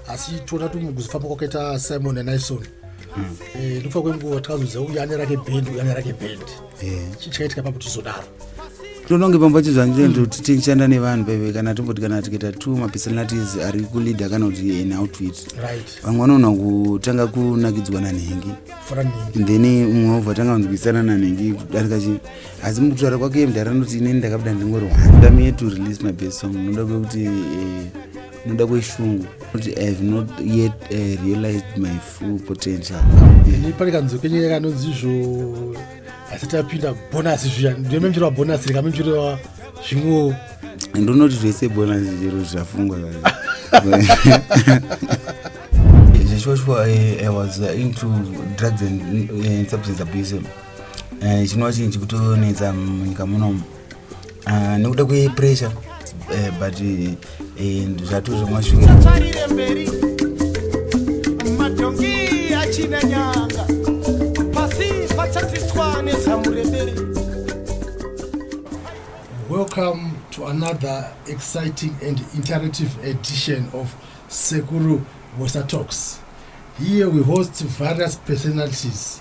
asi toda kuti mukuzofamba kwakaita simon nanaison hmm. eh, nekufa kwenguva takazoziva uyu ane rake bhendi uyu ane rake bhendi eh. chii chakaitika papo tizodaro ndononge pamba chizvanjendo kuti tichishanda nevanhu paive kana tomboti kana tikaita two mapersonalities ari kuleader kana kuti an outfit vamwe vanoona kutanga kunakidzwa nanhengi then mumwe wobva tanga kunzwisana nanhengi kudarika chi asi mukutaura kwake iye mdhara anoti inini ndakabuda ndingori wanda me to release my best song noda kwekuti eh, noda kweshungu kuti i have not yet uh, realized my full potential ini pane kanzwi kenyaya kanonzi izvo asi tapinda bonasi zviya ndiyo memchero wabonasi rika memchero wa zvimwewo ndonoti zvese bonasi chero zvafungwa zveshuwa shuwa eh, i was eh, into drugs and eh, substance abuse Eh, chinova chinhu chikutonetsa munyika munomu ah, nekuda kwepressure eh, but eh, zvato zvamasvira Welcome to another exciting and interactive edition of Sekuru Vosa Talks. Here we host various personalities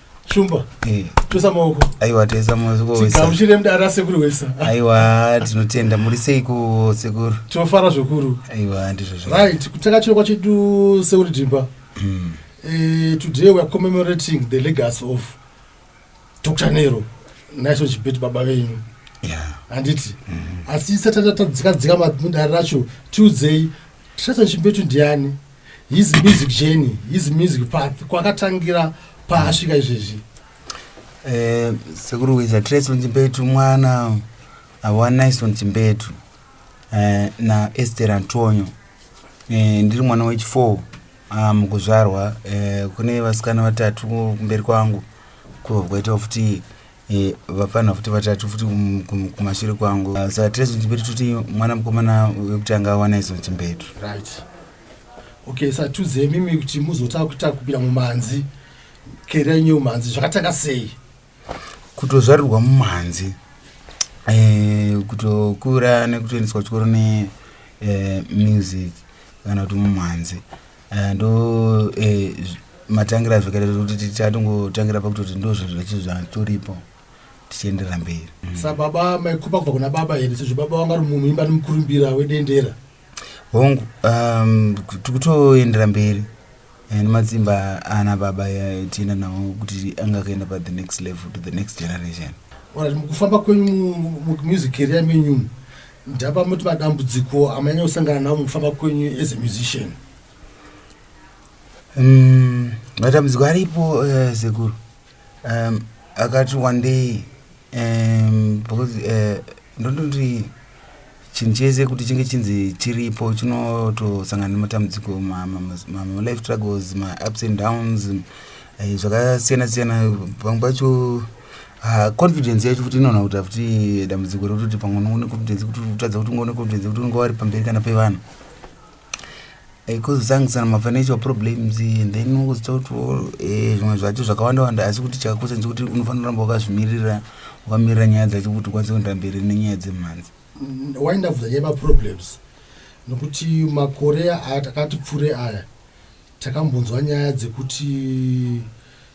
shumba eh. tosa maoko aiwa toisa maokogamuchire mdara sekuru wesa aiwa tinotenda muri seiko sekuru tinofara zvekuru aiwa ndizvo right kutanga chirokwa chedu sekuru dhimba hmm. eh, today weare commemorating the legacy of dr nero naiso chibeti baba venyu handiti hmm. asi satatatadzikadzika mudare racho tiudzei tisato chimbetu ndiani his music journey his music path kwakatangira paasvika izvezvi eh, sekuru wiza treson chimbetu mwana awanison chimbetu eh, na ester antonio eh, ndiri mwana wechifour ah, mukuzvarwa kune vasikana vatatu kumberi kwangu kubva kwaita futi Eh, vapfanha futi vatatu futi kumashure kwangu ah, sa tres chimbetu tuti mwana mukomana wekutanga awana iso chimbetu right okay sa tuze mimi kuti muzota kuita kupira mumanzi kera yenyu mumanzi zvakatanga sei kutozvarirwa mumanzi eh, kutokura nekutoendeswa chikoro ne eh, music kana kuti mumanzi Eh, ndo eh, matangira zvekare kuti tichatongotangira pakutoti ndo zvinhu zvechi zvatoripo tichienderera mberi mm. sababa maikupa kubva kuna baba here sezvo baba wanga ri munhu imba nemukurumbira wedendera hongu um, tikutoendera mberi and matsimba ana baba tienda nawo kuti anga akaenda pa the next level to the next generation orit mukufamba kwenyu mumamusic caria menyumu Ndapa muti madambudziko amanyanya kusangana nawo mukufamba kwenyu as a musician? Um, matambudziko aripo uh, sekuru um, akati one day um, because uh, eh, ndondoti chinhu chese kuti chinge chinzi chiripo chinotosangana nematambudziko malife struggles maups and downs eh, zvakasiyana siyana pamwe pacho Ah, confidence yacho futi inoona kuti afuti dambudziko rokutoti pamwe unongo neconfidence kuti utadza kuti ungo neconfidence kuti unonga wari pamberi kana pevanhu kozosangusana eh, mafinancial problems and then unozota kuti oh, eh, zvimwe zvacho zvakawanda wanda asi kuti chakakosha ndechekuti unofanira kuramba wakazvimirira wakamirira nyaya dzacho kuti ukwanise kuenda mberi nenyaya dzemhanzi mm, why ndabvunza nyaya maproblems nokuti makore aya takati pfure aya takambonzwa nyaya dzekuti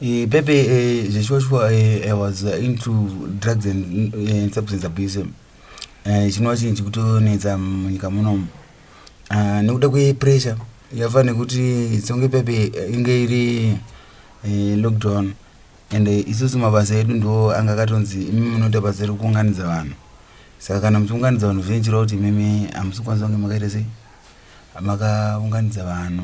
Eh, pepe eh, zveshuwa shuwa eh, i was uh, into drugs and, uh, and substance abuse eh, chinova chinhu chikutonetsa munyika munomu uh, nekuda kwepressure yafa nekuti songe pepe eh, inge iri eh, lockdown and eh, isusu mabasa edu ndo anga akatonzi imi munoita basa rekuunganidza vanhu saka kana muchiunganidza vanhu zvinoitirwa kuti imimi hamusi kukwanisa kunge makaita sei makaunganidza vanhu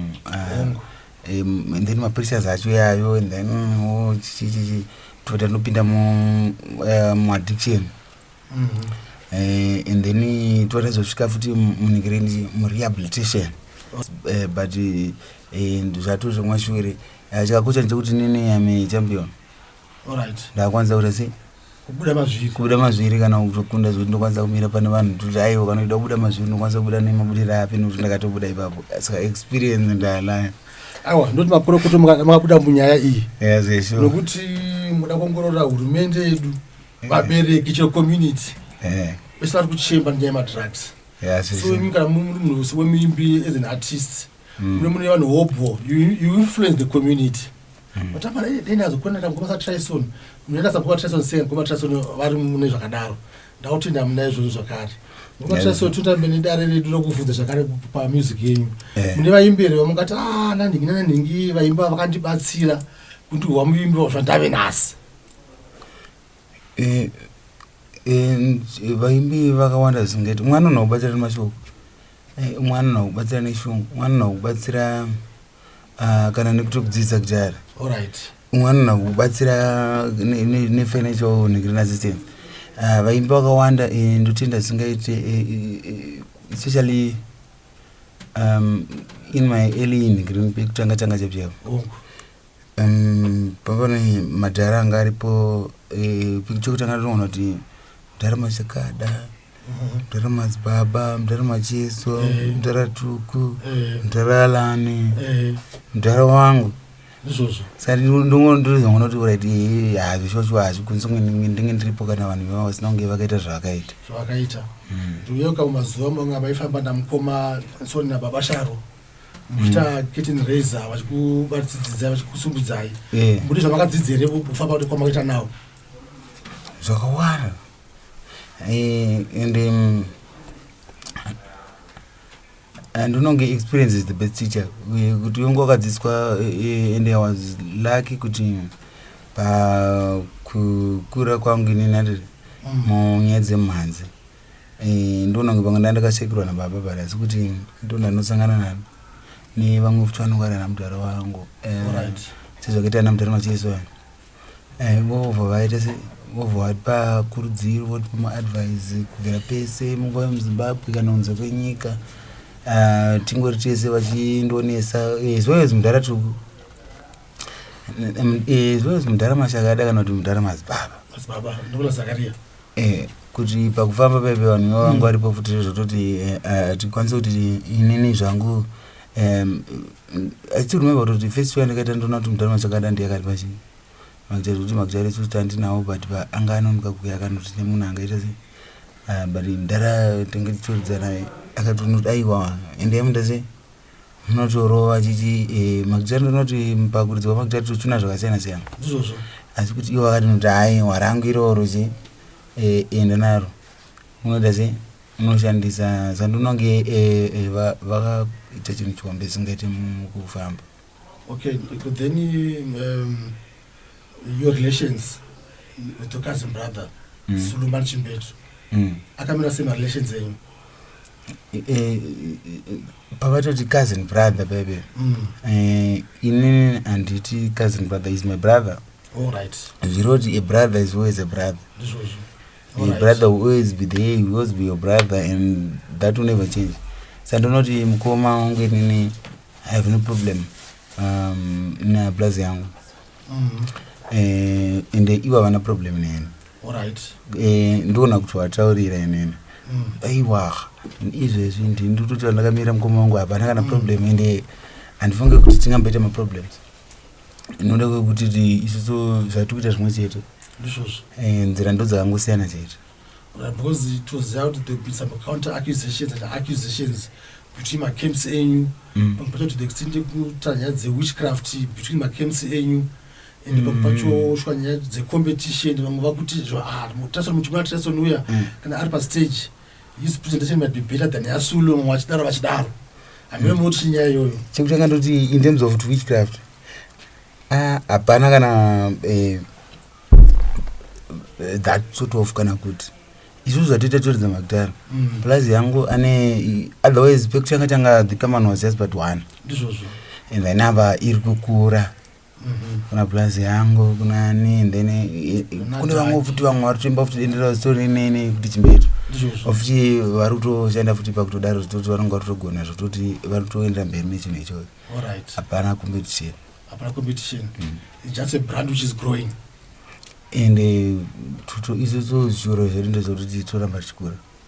hongu um, and then mapristers acho yayo and then oh, chichichichi tobva tanopinda muaddiction mu mm -hmm. Eh, and then eh, toratizosvika futi munhikireni murehabilitation eh, but zvatozvomwa shure chakakosha ndechekuti nini ame champion ndakwanisa kuita sei kubuda mazviri kubuda mazviri kana kutokunda zvekuti ndokwanisa kumira pane vanhu kuti aiwa kana kuda kubuda mazviri ndokwanisa kubuda nemabudiro api nekuti ndakatobuda ipapo saka experience ndayanayo aiwa ndoti makorokoto makabuda munyaya iyi nokuti muda kuongorora hurumende yedu eh. vabereki chero community eh. vese vari kuchemba nenyaya yemadrugs so imi kana muri munhu wese wemuimbi as an artist hmm. mune mune vanhu hobho you influence the community Matamara hmm. dai ndazokona kuti mukoma saTryson munoita sababa Tyson sei mukoma Tyson vari mune zvakadaro ndakuti ndamuna izvozvo zvakare mukoma Tyson totambe nedare redu rokuvhunza zvakare pamusic yenyu eh. mune vaimbi here vamukati a ah, nanhingi nanhingi vaimba vakandibatsira kundihwa muimbi wazvandave nhasi eh, eh, vaimbi vakawanda zingati mwana unokubatsira nemashoko mwana unokubatsira neshungu mwana unokubatsira Ah, kana nekuti kudzidza kudhara Alright. umwe anona kubatsira ne- ne- nefinancial negrin assistance Ah, vaimbi vakawanda eh, ndotenda zvisingaite eh, eh, eh, especially um, in my early negrin pekutanga tanga chapyavo Hongu. um, papane madhara anga aripo eh, pekutanga toona kuti mudhara machakada mdara madzibaba mdara macheso eh. mdara tuku eh. mdara alani eh. mdara wangu saka ndongondorizongonoti urit hazvi shosho hazvi kunzi ndinge ndiripo kana vanhu vevavo sina kunge vakaita zvavakaita zvavakaita hmm. ndiuye uka mazuva manga vaifamba namukoma soni nababa sharo muchita hmm. kitten raise vachikubatsidzidzai vachikusumbidzai mbuti zvamakadzidzere kufamba kwamakaita nawo zvakawanda Eh, and um, and unonge experience is the best teacher eh, kuti unge wakadzidziswa eh, and i was lucky kuti pakukura kwangu ini nandiri mm. munyaya dzemhanzi ndonange panga nda ndakashekirwa nababa but asi kuti ndondanosangana nano nevamwe futi vanongwarira mudhara wangu sezvakaita ana mudhara macheso aya Eh, vobva vaita se vobva vatipa kurudziro votipa maadvise kubvira pese munguva yemuzimbabwe kana kunze kwenyika ah, tingori tese vachindonesa eh, as well as mudhara tu eh, as well as mudhara mashakada kana kuti mudhara mazibaba madzibaba ndokuna zakaria Eh, kuti pakufamba pepe vanhu vavo vanga varipo futi zvototi eh, ah, tikwanise kuti inini zvangu Um, I still remember what the first one I got into not mdana chakada ndiye akati pachi makjari kuti makjari su stand now but ba anga anonoka kuya akanoti ne munhu anga ita se uh, but ndara tenge tsoridza naye akati unoti aiwa and yam ndase munotorova chichi eh, makjari ndonoti mpakuridzi wa makjari tuchuna zvakasiyana siyana izvozvo asi kuti iwo akati noti aiwa rangu iroro chi eh, enda naro Unoita sei? Unoshandisa zandinonge vakaita chinhu chihombe chisingaite mukufamba. Okay, then um, your relations with your cousin brother mm. Suluman Chimbetu mm. akamira sei marelations enyu? Eh, eh, eh, pavatoti cousin brother bebe mm. eh, inini handiti cousin brother is my brother zviroti a brother is always a brother Zhuzhu. Your brother will always be there, will always be your brother and that will never change. So I do not even come out with any, I have no problem um, in a blaz yangu. Mm. Uh, and the iwa wana problem in him. All right. Uh, eh, ndona kuti wataurira inene. Mm. Aiwa, izvezvi ndindututi vandakamira mukoma wangu hapana kana mm. problem ende handifunge kuti tingamboita maproblems. inoda kuti isusu zvatikuita zvimwe chete ndizvozvo eh, nzira ndo dzakangosiyana chete because it was out there been some counter accusations and accusations between macamps enyu mm. pamwe pacho to the extent yekuta nyaya dzewitchcraft between macamps enyu and mm. pamwe pacho shuwa nyaya dzecompetition vamwe vakuti zvo ah, mutasoni muchimuna tasoni uya mm. kana ari pastage mm. his presentation might be better than yasulo mumwe achidaro vachidaro hameno mm. noti nyaya iyoyo chekutanga ndoti in terms of witchcraft ah, hapana ah, kana eh, eh, that sort of kana kuti izvozvo zvatoita toridza makudhara mm. plus yangu ane otherwise pekutanga tanga the common was just but one ndizvozvo and then ava iri kukura kuna plus yangu kuna ni and then eh, eh, kune vamwe futi vamwe vari kutoimba futi dendera zitori nene kuti chimbeto ofuti vari kutoshanda futi pakutodaro zvitoti vanonge vari kutogona zvitoti vari kutoendera mberi nechinhu ichoyo hapana competition hapana competition mm. just a brand which is growing and eh, tuto izvozvo zvichikoro zvedu ndezvekuti toramba tichikura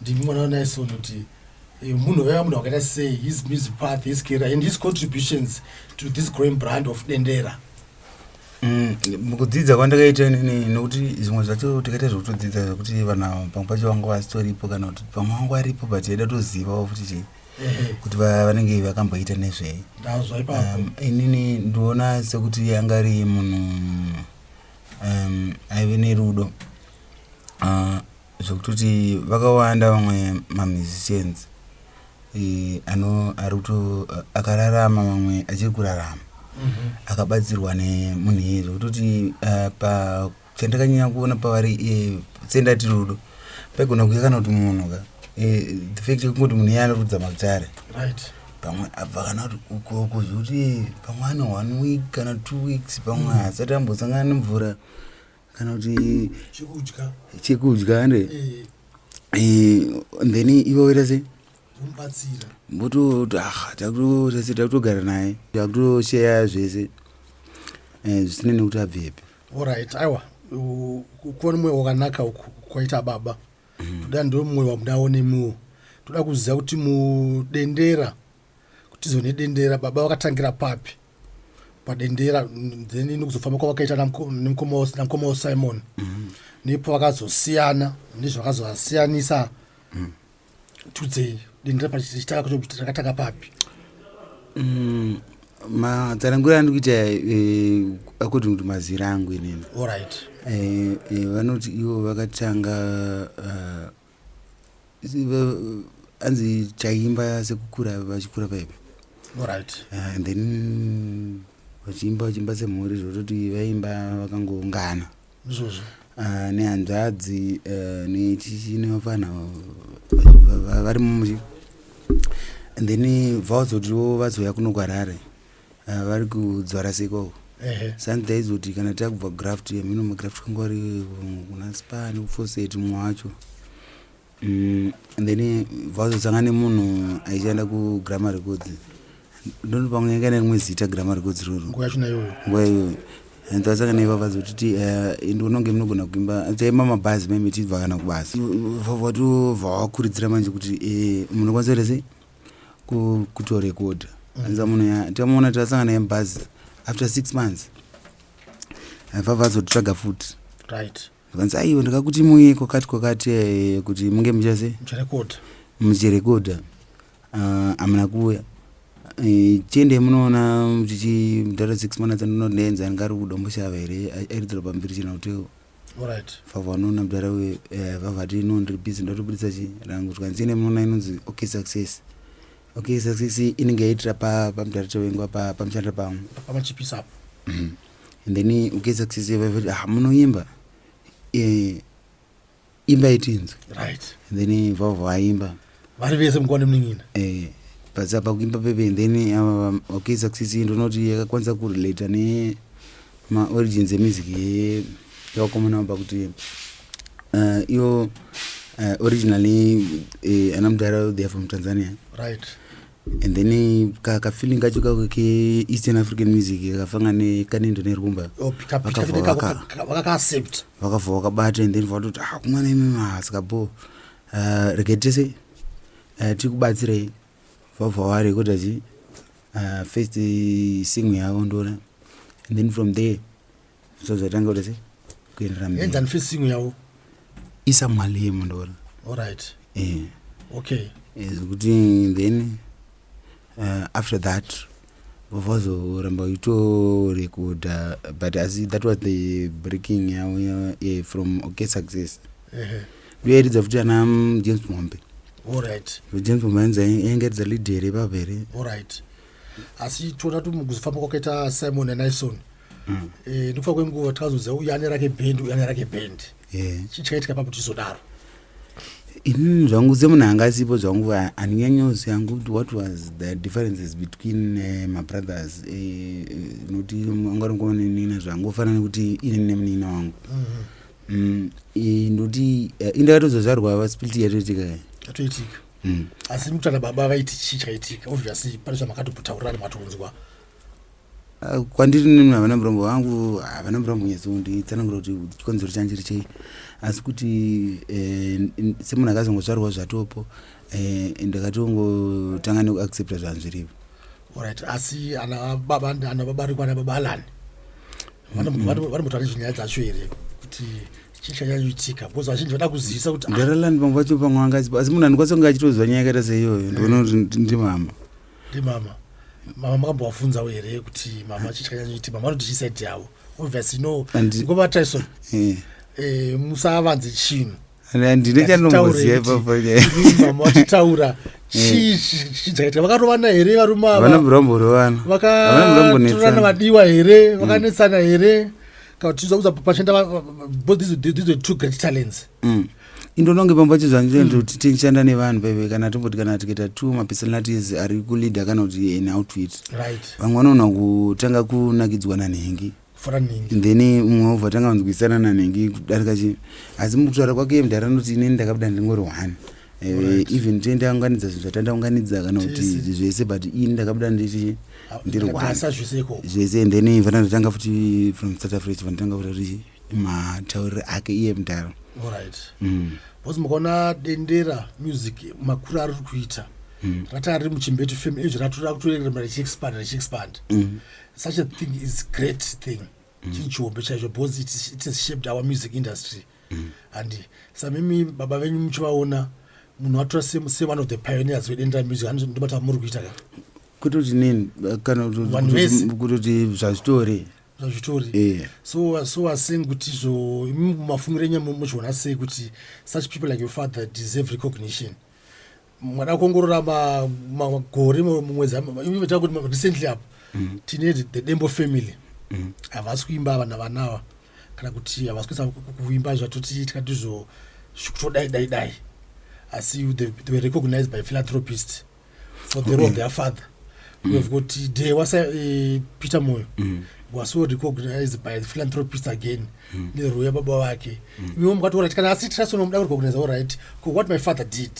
ndimi mwana wanaison kuti eh, munhu vaiva munhu wakaita sei his music path his career and his contributions to this growing brand of dendera Mm, mukudzidza kwandakaita inini nokuti zvimwe zvacho takaita zvekutodzidza zvekuti vanhu ava pamwe pacho vanga vasitoripo kana kuti pamwe vanga varipo but yaida tozivawo futi chii kuti vanenge vakamboita nezvei um, inini ndiona sekuti anga ari munhu um, aive nerudo uh, zvekutoti vakawanda vamwe mamusicians eh, ano ari kuto akararama vamwe achiri kurarama mhm. akabatsirwa nemunhu iye zvekutoti eh, pa chandakanyanya kuona pavari eh, sendati rudo paigona kuya kana kuti munhu ka the fact yekungoti munhu iye anorudza mabzare right pamwe abva kana kuti ukoko zvekuti pamwe ane one week kana two weeks pamwe mm. asati ambosangana nemvura mm. kana kuti chekudya chekudya ande eh. eh, then ivo voita sei mubatsira mbototo aha takutotese takutogara naye takutosheya zvese eh, zvisine nekuti abvepi orit aiwa kuona mwoyo wakanaka uku kwaita baba mhm. toda ndo mwoyo wamudaonemiwo toda kuziva kuti mudendera kutizo nedendera baba vakatangira papi padendera then nekuzofamba kwavakaita nemukoma wa simon mm. nepo vakazosiyana nezvakazovasiyanisa mm. tudzei dendera pachitaka kuti rakatanga papi mm, matsanangura andi kuita eh, according to mazira angu inini orit eh, eh, vanoti ivo vakatanga anzi chaimba sekukura vachikura paipi right. uh, and then vachiimba vachiimba semhuri zvototi vaimba vakangoungana zvozvo uh, ah, nehanzvadzi uh, eh, nechichi nevafana vari mumuchi and then vaozotiwo vazouya kuno kwarare Ah, vari kudzvara seko uko ehe sani taizoti kana takubva graft yamino magraft kanga ari mm, kuna span foseti mumwe wacho Mm, and then vazosanga nemunhu aishanda kugrammar records ndoni pamwe yanga nerimwe zita grammar records roro nguva yacho nayoyo nguva iyoyo and vasanga naiva vazotiti eh, indi unonge munogona kuimba taimba mabhazi meme tichibva kana kubasa vatova vakuridzira manje kuti eh, munokwanisa kuita sei kutorekodha anza munhu ya tamuona tasangana yemubhazi after six months aifava azotsvaga futi right vanzi aiwe ndakakuti muye kwakati kwakati eh, kuti munge muchase muchirekodha muchirekodha ah, amuna kuuya Eh, chiende munoona muchichi mdhara six months anononenza angari kudomboshava here airidzira pambiri chena kuti Alright. Vava vanoona mdara we eh, vava ti no ndiri busy ndoda kutobuditsa chi rangu zvikanzi ine munoona inonzi okay success. Okay success inenge yaitira pa pa mdara tewengu apa pamushanda pamwe. Pamachipisa apo. Mhm. And then okay success vava ti ah munoimba. Eh imba itinzwe. Right. And then vava vaimba. vari vese mukwa nemunin'ina eh, basa pakukimba pepe and then ava um, okay success iyi ndonoti yakakwanisa kurelata ne maorigins emusic yevakomana avo pakuti uh, iyo uh, originally uh, ana mudhara they are from tanzania right and then kafeeling kacho kako keeastern african music kakafanga nekanendo nerumba oh, vakavha vakabata and then vakatoti ah kumwana imimaasikabhoo uh, rege tese uh, eh, tiri kubatsirei vabva wari kuita chii uh, first uh, single yavo ndoona and then from there so zvatanga kuita sei kuenderera mberienzani first single yavo isa mali yemo ndoona allright e eh. yeah. okay eh, zvekuti uh, then uh, after that vavazoramba uchitorekodha but asi that was the breaking yavo yeah, from okay success ndoyaridza uh -huh. futi ana mm, james mombe orit james mombe anzi ainge aridza lead here ipapo here orit asi tiona tumukuzofamba kwakaita simon anison mm. e, eh, nekufa kwenguva takazoziva uyu ane rake bend uyu ane rake bend yeah. chichaitika papo tizodaro inini zvangu semunhu anga asipo zvangu handinyanyoziva yangu kuti what was the differences between uh, mabrothers eh, eh, nokuti uh, uh, anga ringuva nenina zvangu ofana nekuti inini nemunina wangu mm-hmm. mm, eh, ndokuti uh, indakatozozvarwa vaspiliti yatoitika yatoitika mm. asi mutana baba vaiti chii chaitika obviously pane zvamakatopotaurira nematonzwa Ah, kwandiri nini havana murombo vangu havana murombo nyatsounditsanangura kuti chikonzero chandiri chei asi kuti eh, semunhu akazongozvarwa zvatopo eh, ndakatongotanga nekuaccepta zvanhu zvirivo orit asi ana baba ana baba riko ana baba alani vanombotaura nezvenyaya dzacho here kuti chii chanyanyuitika because vazhinji vada kuzivisa kuti ah. ndaralani vamwe vacho pamwe vangaziva asi munhu andikwanisa kunge achitozwa nyaya yakaita seiyoyo ndioona kuti ndimama ndimama mama makambovafunzawo here kuti mama chichanyanyiti mama vanoti chisaidi yavo obviously no ngova tyson eh. eh, musavanze chinhu handine chanongoziva ipapo mama vachitaura chichaitika vakarovana here varume avavanombororovana vakatorana vadiwa here vakanetsana here kana kuti tizokuza pachenda both these, these were two great talents mm. indononge pamba chizvanzoti mm. tichishanda nevanhu veve kana tomboti kana tikaita two mapersonalities ari kuleader kana kuti an outfit vamwe vanoona kutanga kunakidzwa nanhengi then mumwe wobva tanga vanzwisana nanhengi kudarika chi asi mukutaura kwake mdhara anoti inini ndakabuda ndingori one eh, even tiende aunganidza zvinhu zvatandaunganidza kana kuti zvese but ini ndakabuda ndiri ah, ndiri one zvese and then vandatanga futi from south africa vandatanga futi matauriro ake iye mudhara orit mm. bcause mukaona dendera music makuru ari kuita mm. rataa riri muchimbetu fam ezvi ratora kutoerema richiexpand richiexpand mm. such a thing is great thing mm. chii chihombe chaizvo bcause it has shaped our music industry mm. and samimi baba venyu muchivaona munhu atora se one of the pioneers vedendera music anondibata muri kuita ka kutoti nini kana kutoti zvazvitori zvazvitori yeah. so so was saying kuti zvo mafungiro enyu mozviona sei kuti such people like your father deserve recognition mwana kuongorora magore mumwedzi ita kuti recently apo mm. tine the dembo family mm. havasi kuimba vana vanawa kana kuti havasi kuisa kuimba zvatoti tikati zvo kutodai dai dai asi they were recognized by philanthropist for the role of their father we've got uh, de wasa uh, peter moyo mm. was so recognized by the philanthropist again mm. neruu yababa vake mm. miwo mukataura kuti kana asi tirasono muda kurecognize orit ko what my father did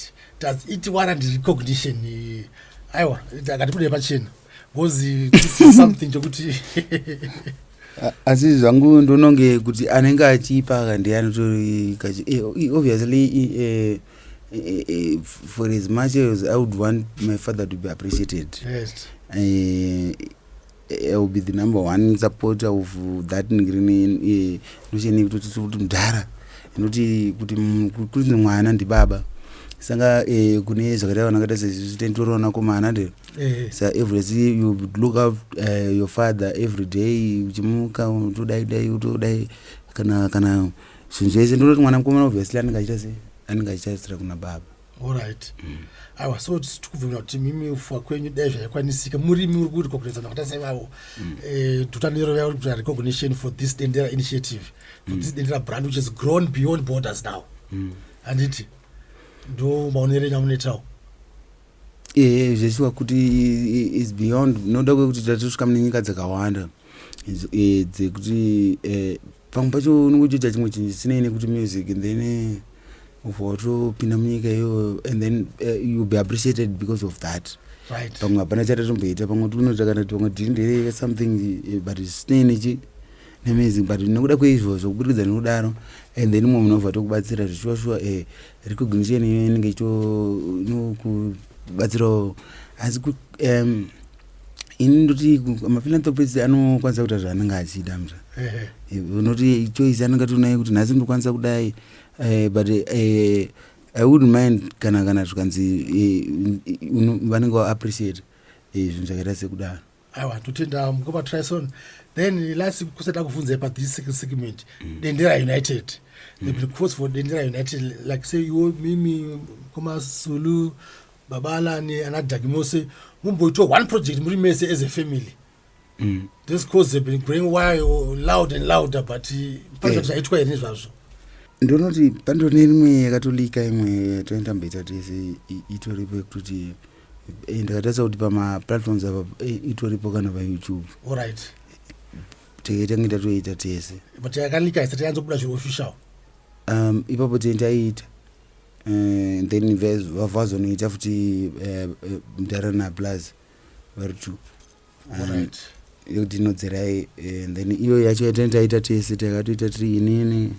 does it warrant recognition aiwa akati kudei pachena ngozi something chekuti asi zvangu ndononge kuti anenge achipa kandiye anotori eh, obviously eh, eh, for as much as i would want my father to be appreciated yes. will be the number one supporter of that ngrini nocheni kutoti mudhara inoti kuti kuti mwana ndibaba saka kune zvakaita vanakaita sezvitendoronakomana ndero Eh. sa every day you look up uh, your father every day uchimuka utodai dai utodai kana kana zvinhu zvese ndinoti mwana mukomana obviously anenge achiita se anenge achitaritsira kuna baba olright mm. aiwa so tikubvumira kuti mimi ufuwa kwenyu dai zvaikwanisika murimi uri kuitwa kuredzana kuita sevavo mm. eh, dutano yero yavo kuti recognition for this dendera initiative for mm. this dendera brand which is grown beyond borders now handiti ndo maonero enyu amunoitawo ehe zveshuwa kuti is beyond noda kwekuti tatosvika mune nyika dzakawanda eh, dzekuti eh, pamwe pacho unenge uchiita chimwe chinhu chisinei nekuti music and then eh, ubva watopinda munyika iyoyo and then youll be appreciated because of that pamwe hapana chatatomboita pamwe tinoita kana kuti pamwe tiri ndere something but zvisinei nechi nemusic but nekuda kweizvozvo kuburikidza nekudaro and then mumwe munobva tokubatsira zvichivashuwa eh, recognition inenge ichinokubatsirawo asi um, ini ndoti maphilanthropist anokwanisa kuita zvaanenge achida mzva unoti choice anenge atinayo kuti nhasi ndokwanisa kudai eh, but eh, i would mind kana kana zvikanzi eh, vanenge vaappreciate zvinhu zvakaita sekudaro aiwa totenda mukoma trison then last kusati akuvhunzai pa this second segment mm. dendera united mm. the because for dendera united like say iwo mimi mukoma sulu baba alani ana dagi mose mumboitwa one project muri mese as a family mm. this cause have been growing why loud and louder but eh, project zvaitwa here nezvazvo ndonoti pandone rimwe yakatolika imwe toenda mbaita tese itoripo yekutoti Eh, ndakatarisa kuti pamaplatforms apa eh, itoripo kana payoutube orit tenge tange tatoita tese but yakalika isati yanzobuda zviri official um ipapo tenge taiita Eh, then vazonoita futi eh, eh, mdara naplus vari two right. yekuti inodzerai eh, and then iyo yacho yatene taita tese takatoita tiri inini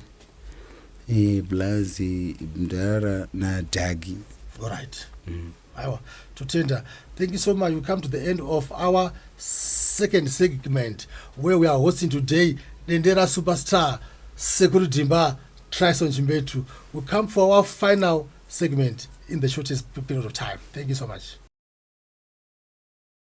eh, plus eh, mdara nadhagi Alright. Aiwa, totenda. Thank you so much. We come to the end of our second segment where we are hosting today Dendera Superstar Sekuru Dimba Trison Chimbetu. We come for our final segment in the shortest period of time. Thank you so much.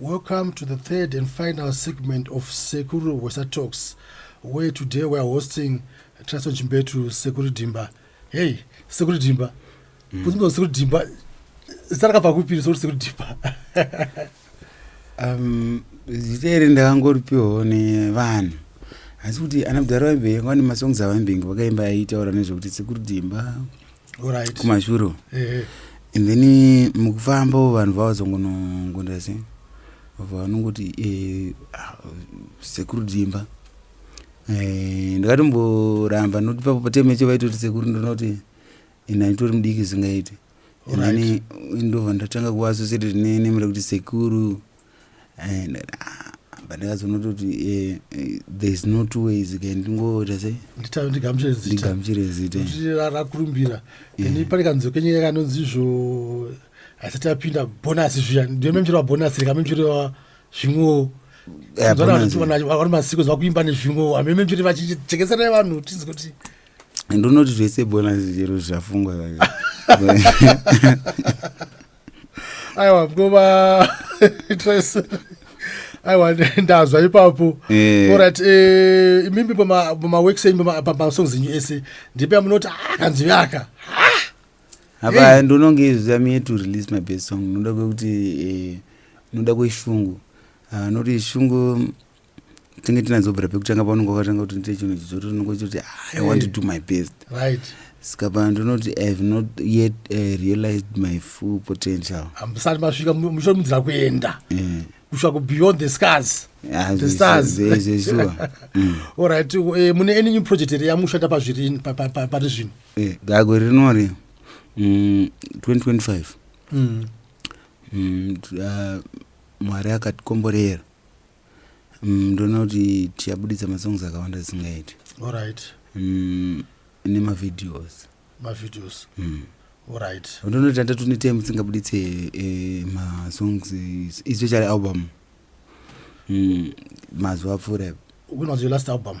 Welcome to the third and final segment of Sekuru Wesa Talks, where today we are hosting Trason Chimbetu Sekuru Dimba. Hey, Sekuru Dimba. Mm. Kunzi Sekuru Dimba. Zita rakabva kupi Sekuru Sekuru Dimba? um, zita iri ndakangoripiwawo nevanhu asi kuti ana mudhara vaimbe vane masongs avaimbengi vakaimba aitaura nezvekuti Sekuru Dimba right. kumashuro eh. and then eh, mukufambawo vanhu vavazongonongonda se vabva vanongoti eh, ah, sekuru dzimba eh, ndakatomboramba noti papo pateme cho vaitoti sekuru ndinoti ndaitori mudiki zingaiti ndobva ndatanga kuvasosereti nemira kuti sekuru but ndakazonototi eh, eh, thereis no two ways ke ndingoita sei ndigamuchire zitarakurumbira ini pane kanzwi kenyika kanonzi izvo asati apinda bonasi zviya ndiyo memchero wabonasi rika memchero zvimwewo vari masiku zvakuimba nezvimwewo ame memchero vachichekeserai vanhu tinzi kuti ndonoti zvese bonasi chero zvafungwa aiwa kova aiwa ndazwa ipapo eh. orit eh, imimi pamaworks enyu pamasongs enyu ese ndipe amunoti ah, akanzwi aka apa ndononge izvi amie to release my best song noda kwekuti eh, noda kweshungu ah, noti shungu tinge tinazobvira pekutanga paunenge wakatanga kuti ndite chinhu chichoti unenge uchitoti ah, i want to do my best right ska pano ndinoti i have not yet uh, realized my full potential ambusati masvika muchiomudzira kuenda mm. kusvika ku beyond the scars ah, the stars mm. allright eh, mune any new project here yamushanda pazvirini pari zvino eh, gago rinori 2025 mm, mwari akatikomborera Mm, ndoona kuti tichabuditsa masongs akawanda zisingaiti Alright. Mm, nemavideos Mavideos. Mm. Alright. ndoona kuti hatatu netime tisingabuditse eh, masongs eh, especially album Mm, mazuva apfuura ipo. When was your last album?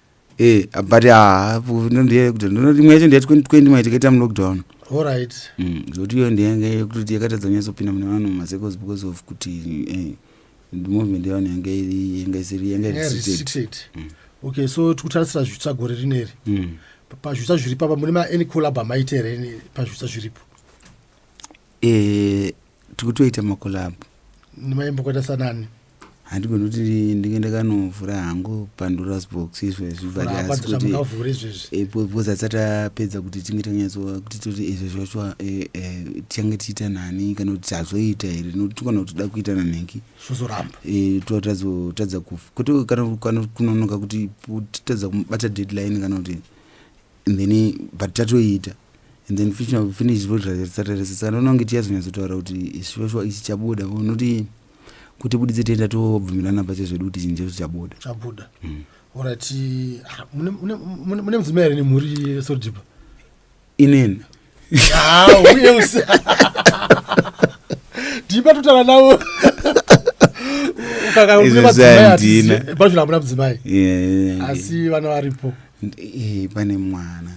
Eh, but ah, imwe yacho ndeya 2020 mai tikaita mulockdown orit mm, zvokuti iyo ndeyanga yekutoti yakatadza kunyatsopinda mune vanhu mumasecos because of kuti eh, movement yevanhu yanga iri yanga isiri yanga restricted mm. okay so tikutarisira zvitsva gore rineri mm. pazvitsva zviripo apa mune maani collab amaita here pazvitsva zviripo eh, tikutoita makolabhu ndimaimbo kwata sanani handigoni kuti ndinge ndakanovhura hangu pandoras box izvezvi butbecause atisati apedza kuti tinge tanyatsoa kuti toti izvezvi wacho eh, eh, tichange tichiita nani kana kuti tazoita here nokuti kana kuti toda kuita nanhingi eh, totadza kufa kwete kana kunonoka kuti totadza kumubata deadline kana kuti and then but tatoiita and then finish votaresesana unonge tiyazonyatsotaura kuti shuwa shuwa ichi chabuda unoti kuti buditse tienda tobvumirana pache zvedu kuti chinje zvichabuda chabuda mm. orati ah, mune mudzimai here nemhuri sodipa inini uye usi ndiba totana navo ukakaazvino hamuna mudzimai asi vana varipo eh, pane mwana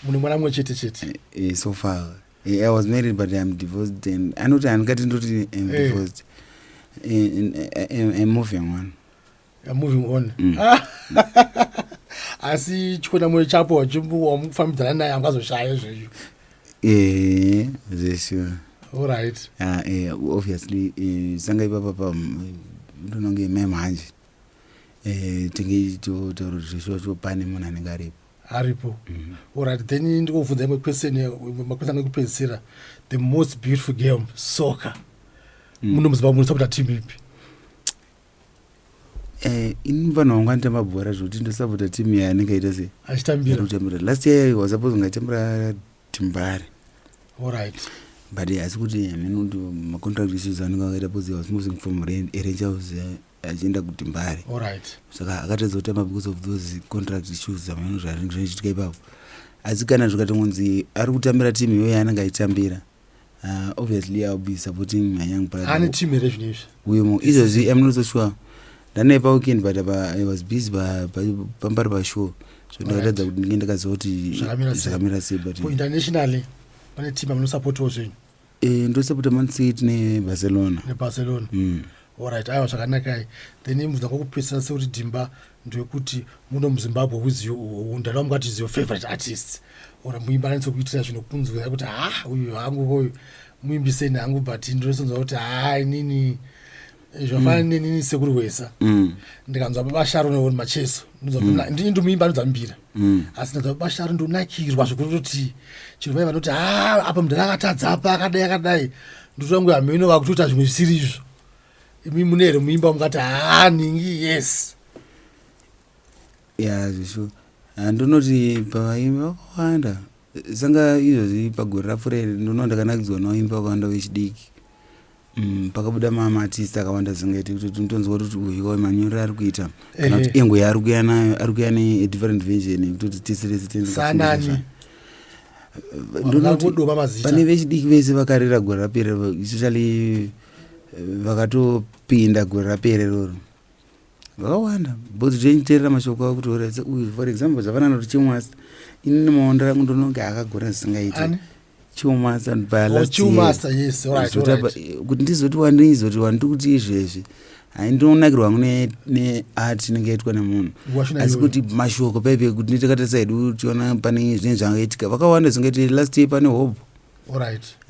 mune mwana mumwe chete chete eh, so far eh, i was married but im divorced and anoti handikati ndoti im divorced imoving one moving on mm. ah. asi chikona moyo chapo wamufambidzana naye angazoshaya izvezvo eh, zvesure orit ah, eh, obviously eh, sanga ipapa pa ndononge mem hanje tinge toro zveshocho pane munhu anenge aripo aripo mm-hmm. orit then ndikobvunza imwe question makwesa ange kupedzisira the most beautiful game soccer mm. munomuziva munosa kuti atimu ipi Eh, ini vanhu vangu anotamba bhora zvokuti ndosapota team yaye anenge aita se achitambira kutambira last year was supposed kunge atambira timbare orit but asi kuti hameno kuti macontract issues anenge akaita because was moving from arrange house eh, achienda kutimbare orit saka akatadza kutamba because of those contract issues hameno zvachiitika ipapo asi kana zvikatongonzi ari kutambira team iyoyo yaanenge aitambira uh, obviously i'll be supporting my young brother ane team here zvinhu izvi uye mo izvozvi i'm not so sure ndanaye paweekend but apa i was busy pambari pashow so ndakatadza kuti ndinge ndakaziva kuti zvakamira sei but internationally pane team amunosupportiwo zvenyu eh, ndosapota man city nebarcelona nebarcelona mm. Alright, aiwa zvakanakai. Then imubvunza kwekupedzisira sekuti Dimba ndewekuti muno muZimbabwe with you ndalwa mukati is your favorite artist or muimbi ananise kuitira zvinhu kunzwira kuti ha ah, uyu hangu uyu muimbi seni hangu but ndinosonzwa kuti ha ah, inini zvafana mm. nenini sekuri wesa mm. ndikanzwa baba Sharon or Macheso ndinonzwa mm. ndini ndomuimbi anonzwa mbira mm. asi ndadza kubasharo ndonakirwa zvekutoti chero vai vanoti ha ah, apa mudhara akatadza apa akadai akadai ndotangu hameno vakutoita zvimwe zvisiri izvo imi mune here muimba mukati haa ah, ningi yes ya zvisho handinoti pavaimbi vakawanda Sanga izvozvi pagore rapfuura iri ndinoona ndakanakidzwa noimbi vakawanda vechidiki mm, pakabuda mamatist akawanda zingaiti kuti tinotonzwa kuti uyu wemanyorero ari kuita kana kuti engo yaari kuya nayo ari kuya nedifferent vision yekuti kuti tese rese tendsanani pane vechidiki vese vakarira gore rapera especially eh, vakatopinda gore rapera iroro vakawanda but zvenyiterera mashoko avo kuti oraidza uyu for example zvafanana kuti chimwasa ini nemaondo rangu ndononge akagona zvisingaiti chimwasa kuti ndizoti wandizoti wandiri kuti izvezvi hai ndinonakirwa hangu neart inenge yaitwa nemunhu asi kuti mashoko paipe kuti nditakatasa hedu tiona pane zvinenge zvangaitika vakawanda zingati last year pane hobho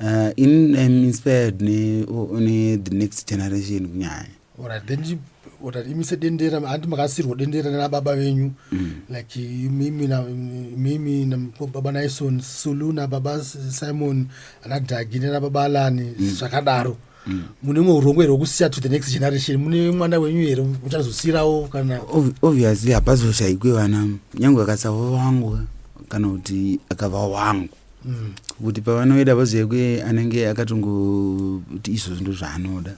uh, ini im inspired ne, ne the next generation kunyanya Alright, then you, alright, imise dendera hanti makasirwa dendera nana baba venyu mm. like mimi na mimi na baba Naison Sulu na baba Simon ana Dagi nana baba Alani mm. zvakadaro mm. mune mwe urongwe here wekusiya to the next generation mune mwana wenyu here uchazosiyirawo kana obviously hapazoshaikwe vana nyange akasava vangu kana kuti akava wangu mm. kuti pavanoida vazive kuye anenge akatongoti izvo zvinto zvaanoda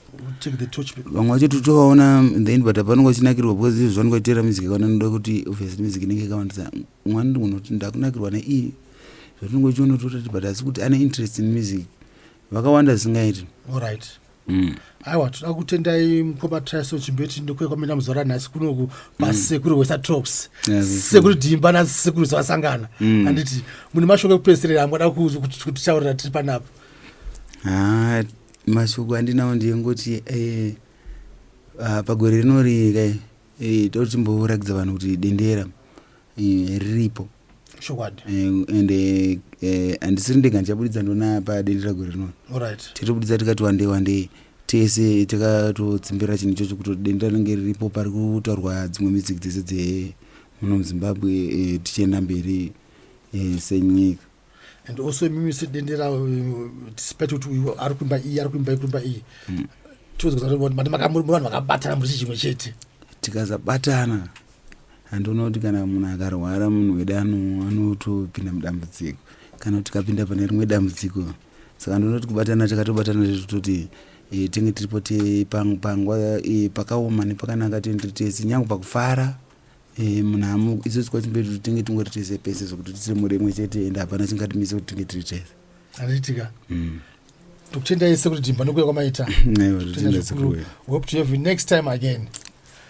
vamwe vacho titovaona the end but apanenge vachinakirwa because izvo zvanenge vachiteera music kana noda kuti obviously music inenge ikawandisa mwani unoti ndakunakirwa neiyi zvatinenge uchiona totati but asi kuti ane interest in music vakawanda zvisingaiti allright Mm. aiwa toda kutendai mukoma trison chimbeti ndokuya kwamina muzora nhasi kunoku pasekuru mm. wesa trops yes, sekuru dimba nasekuru zvasangana mm. anditi mune mashoko ekupedzisirira amuada kutitaurira tiri panapa ah, mashoko andinawo ndiyengoti eh, ah, pagore rinori kai Eh, toti timborakidza vanhu kuti dendera eh, riripo chokwadi Eh, and eh, eh, handisiri ndega ndichaburitsa ndona padendera gore rinori orit titobuditsa tikati wande wande tese takatotsimbira chinhu ichocho kuti dendera rinenge riripo pari kutaurwa dzimwe music dzese dze muno muzimbabwe eh, tichienda mberi eh, senyika and also imimi sedendera uh, despite kuti uyu ari kuimba iyi ari kuimba kuimba iyi hmm. tiozvanhu vakabatana muri chimwe chete tikazabatana handioona kuti kana munhu akarwara munhu wede anotopinda mudambudziko kana kuti tikapinda pane rimwe dambudziko saka ndinoti kubatana takatobatana tototi e, tenge tiripo panguva e, pakaoma nepakanaka tende tese nyange pakufara Eh, munhamu isusu kwachimberi tinge tingori tese pese zvekuti tisiri mhuri imwe chete ende hapana chingatimise kuti tinge tiri tese handiitika mm. tokutenda yese kuti timba nokuya kwamaita hope to have you next time again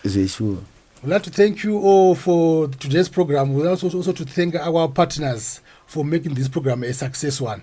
zvesure We'd like to thank you all for today's program. We'd also, also to thank our partners for making this program a success one.